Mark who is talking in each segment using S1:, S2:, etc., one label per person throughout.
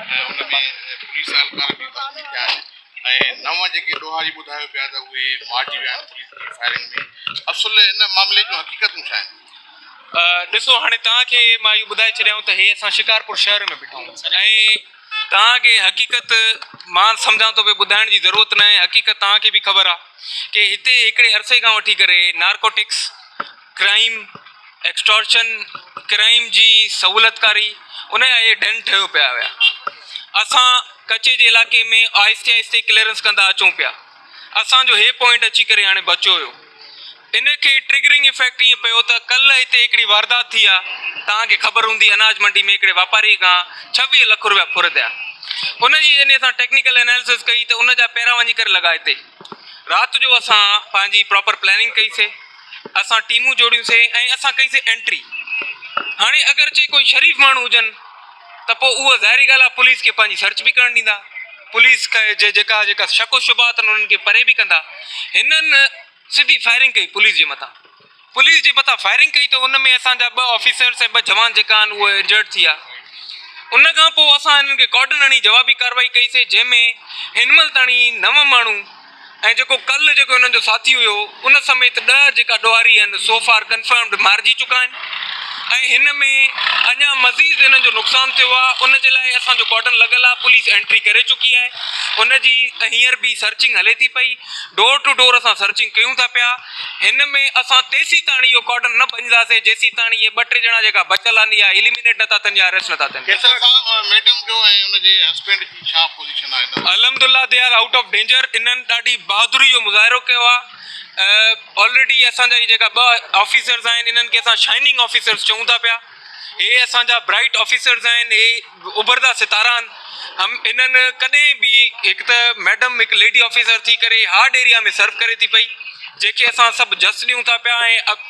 S1: ۽ ان ۾ پوليس اهلڪار به زخمي ٿيا آهن ۽ نو جيڪي ڏوهاري ٻڌايو پيا ته اهي مارجي ويا آهن پوليس جي فائرنگ ۾ اصل ان معاملي جون حقيقتون ڇا آهن؟ ڏسو هاڻي توهان کي
S2: مان اهو ٻڌائي ڇڏيائون ته هي اسان شڪارپور شهر ۾ بيٺا آهيون ۽ توهان کي حقيقت مان سمجهان ٿو پيو ٻڌائڻ جي ضرورت ناهي حقيقت توهان کي به خبر آهي ڪي هتي هڪڙي عرصي کان وٺي ڪري نارڪوٽڪس ڪرائيم، ايڪسٽارشن ڪرائيم جي سهولتڪاري ان جا اهي ڏن ٺهيو پيا هيا. اسان ڪچي جي علائقي ۾ آهستي آهستي ڪليئرنس ڪندا اچون پيا. اسان جو هي پوائنٽ اچي ڪري هاڻي بچيو هيو. ان کي ٽرگرنگ افيڪٽ ايئن پيو ته ڪلهه هتي هڪڙي واردات ٿي آ، توهان کي خبر هوندي اناج منڊي ۾ هڪڙي واپاري کان ڇويهه لک روپيا ڦر ٿيا. ان جي جڏهن اسان ٽيڪنيڪل اناليسز ڪئي ته ان جا پيرا وڃي ڪري لڳا هتي. رات جو اسان پنهنجي پراپر پلاننگ ڪئي سي. اسان ٽيمون جوڙيون سي ۽ اسان ڪئي سي انٽري. هاڻي اگرچه ڪوئي شريف ماڻهو هجن ته پوء اهو ظاهري ڳالهه آهي پوليس کي پنهنجي سرچ به ڪرڻ ڏيندا. پوليس کي جيڪا جيڪا شڪ و شبهات آهن انهن کي پري به ڪندا. هنن سڌي فائرنگ ڪئي پوليس جي مٿان. پوليس جي مٿان فائرنگ ڪئي ته ان ۾ اسان جا ٻه آفيسرز ۽ ٻه جوان جيڪا آهن اهي انجرڊ ٿي ويا. ان کان پوء اسان هنن کي ڪارڊن هڻي جوابي ڪارروائي ڪئي سي جنهن ۾ هن مهل تائين نو ماڻهو ۽ جيڪو ڪل جيڪو انهن جو ساٿي هيو ان سميت ڏهه جيڪا ڏوهاري آهن سو فار ڪنفرمڊ مارجي چڪا آهن ۽ هن ۾ اڃا مزيد انهن جو نقصان ٿيو آهي ان جي لاء اسان جو ڪارڊن لڳل آهي پوليس انٽري ڪري چڪي آهي ان جي هينئر به سرچنگ هلي ٿي پئي ڊور ٽو ڊور اسان سرچنگ ڪيون ٿا پيا هن ۾ اسان تيسيتاڻي اهو ڪارڊن نه ڀڃنداسين جيسيتاڻي اهي ٻه ٽي ڄڻا جيڪا بچل آهن اهي اليمينيٽ نٿا ٿين يا اريسٽ نٿا ٿين
S1: ڇا پوزيشن آهي نواز. الحمدالله they are out
S2: of danger انهن ڏاڍي بهادري جو مظاهرو ڪيو آهي آلريڊي اسان جا هي جيڪا ٻه آفيسرز آهن انهن کي اسان شائننگ آفيسرز چئون ٿا پيا هي اسان جا برائيٽ آفيسرز آهن هي اڀرندا ستارا آهن هم انهن ڪڏهن به هڪ ته ميڊم هڪ ليڊي آفيسر ٿي ڪري هارڊ ايريا ۾ سرو ڪري ٿي پئي جنهن کي اسان سڀ جس ڏيون ٿا پيا ۽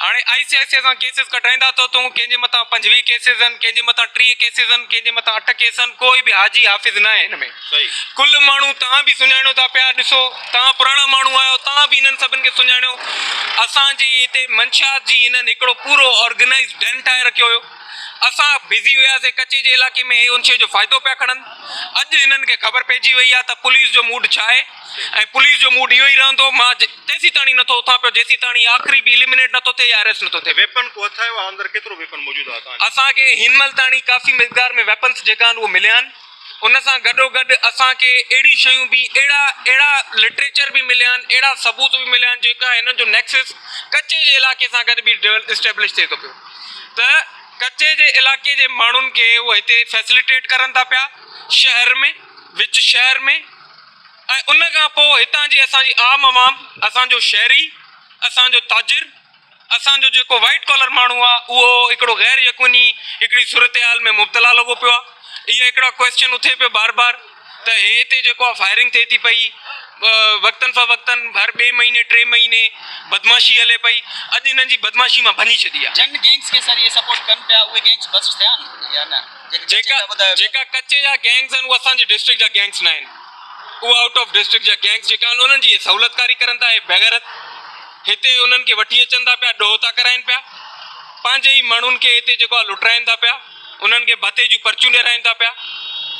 S1: هاڻي آء سي آء سي آء سان
S2: ڪيسز ڪڍرائيندا ته تون ڪنهن جي مٿان پنجويهه ڪيسز آهن ڪنهن جي مٿان ٽيهه ڪيسز آهن ڪنهن جي مٿان اٺ ڪيس آهن ڪوئي به حاجي حافظ ناهي هن ۾ ڪل ماڻهو
S1: توهان
S2: به سڃاڻيو ٿا پيا ڏسو توهان پراڻا ماڻهو آهيو توهان به هنن سڀن کي سڃاڻيو اسان جي هتي منشيات جي هنن هڪڙو پورو آرگنائيز ڊن ٺاهي رکيو هيو اسان بزي هياسي ڪچي جي علاقي ۾ هي ان شي جو فائدو پيا کڻن اڄ هنن کي خبر پئجي وئي آهي ته پوليس جو موڊ ڇا آهي. ۽ پوليس جو موڊ اهو ئي رهندو. مان تيسيتاڻي نٿو اٿان پيو جيسيتاڻي آخري به اليمنيٽ نٿو ٿئي يا اريسٽ نٿو ٿئي. ويپن ڪو هٿ آيو آهي اندر
S1: ڪيترو ويپن موجود آهي اتان جو؟ اسان کي هن مهل تاڻي
S2: ڪافي مقدار ۾ ويپنس جيڪا آهن اهي مليا آهن. ان سان گڏوگڏ اسان کي اهڙيون شيون به اهڙا اهڙا لٽريچر به مليا آهن اهڙا ثبوت به مليا آهن جيڪا هنن جو نيڪسس ڪچي جي علاقي سان گڏ به اسٽيبلش ٿئي ٿو پيو ته ڪچي جي علاقي جي ماڻهن کي اهي هتي فيسليٽيٽ ڪرن ٿا پيا شهر ۾ وچ شهر ۾ ۽ ان کان پوء هتان جي اسان جي عام عوام، اسان جو شهري، اسان جو تاجر، اسان جو جيڪو وائيٽ ڪالر ماڻهو آ اهو هڪڙو غير يقوني هڪڙي صورتحال ۾ مبتلا لڳو پيو آ. اهي هڪڙا ڪوئسچن اٿي پيو بار بار ته هي هتي جيڪو آ فائرنگ ٿئي ٿي پئي وقتن فوقتن هر ٻئي مهيني ٽي مهيني بدمعاشي هلي پئي اڄ هنن جي بدمعاشي مان ڀڃي ڇڏي آ. جن گينگز کي سر اهي
S3: سپورٽ ڪن پيا اهي گينگز بسٽ ٿيا آهن يا نه؟ جيڪا
S2: ڪچي جا گينگز آهن اهي اسان جي ڊسٽرڪٽ جا گينگز نه آهن اهي آئوٽ آف ڊسٽرڪٽ جا گينگز جيڪا آهن انهن جي اهي سهولتڪاري ڪرن ٿا اهي بيغيرت هتي انهن کي وٺي اچن ٿا پيا ڏوهه ٿا ڪرائين پيا پنهنجي ئي ماڻهن کي هتي جيڪو آهي لٽرائين ٿا پيا انهن کي ڀتي جون پرچيون ڏيرائين ٿا پيا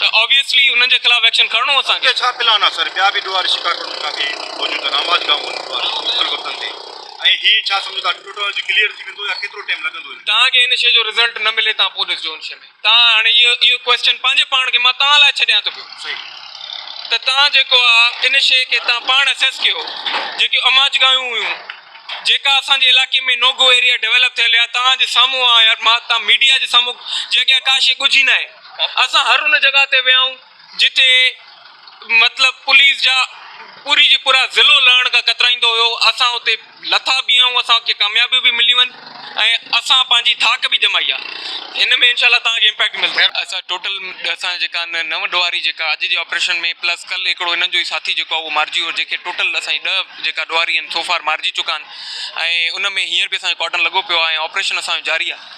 S2: ته آبويسلي انهن جي خلاف ايڪشن کڻڻو اسان کي. اڳتي ڇا پلان آهي سر ٻيا
S1: به ڏوهاري شڪارپور ۾ ڪافي موجود آهن آباد گاهون آهن ڏوهاري مختلف وقتن تي. ۽ هي ڇا سمجهو ٿا ٽيوٽالاجي ڪليئر ٿي ويندو يا ڪيترو ٽيم لڳندو هن ۾. توهان کي ان شي جو
S2: رزلٽ نه ملي توهان پوء ڏسجو ان شي ۾ توهان هاڻي اهو اهو ڪويسچن پنهنجي پاڻ کي مان توهان لاء ڇڏيان ٿو پيو صحيح
S1: ته توهان
S2: جيڪو آ ان شي کي توهان پاڻ اسيس ڪيو جيڪيون اماچگاهيون هيون جيڪا اسان جي علائقي ۾ نوگو ايريا ڊيولپ ٿيل يا توهان جي سامهون آ يار مان توهان ميڊيا جي سامهون جي اڳيان ڪا شي ڳجهي ناهي اسان هر ان جڳهه تي ويا آهيون جتي مطلب پوليس جا پوري جي پورا ضلعو لهڻ کان ڪترائيندو هيو اسان اتي لٿا به آهيون اسان کي ڪاميابيون به مليون آهن ۽ اسان پنهنجي ٿاڪ به جمائي آهي هن ۾ انشاء الله توهان کي امپيڪٽ ملندو. اسان ٽوٽل اسان جا جيڪا آهن نو ڏوهاري جيڪا اڄ جي آپريشن ۾ پلس ڪل هڪڙو هنن جو ئي ساٿي جيڪو آهي اهو مارجي ويو جيڪي ٽوٽل اسان جي ڏهه جيڪا ڏوهاري آهن سو فار مارجي چڪا آهن ۽ ان ۾ هينئر به اسان جو ڪارڊن لڳو پيو آهي ۽ آپريشن اسان جو جاري آهي.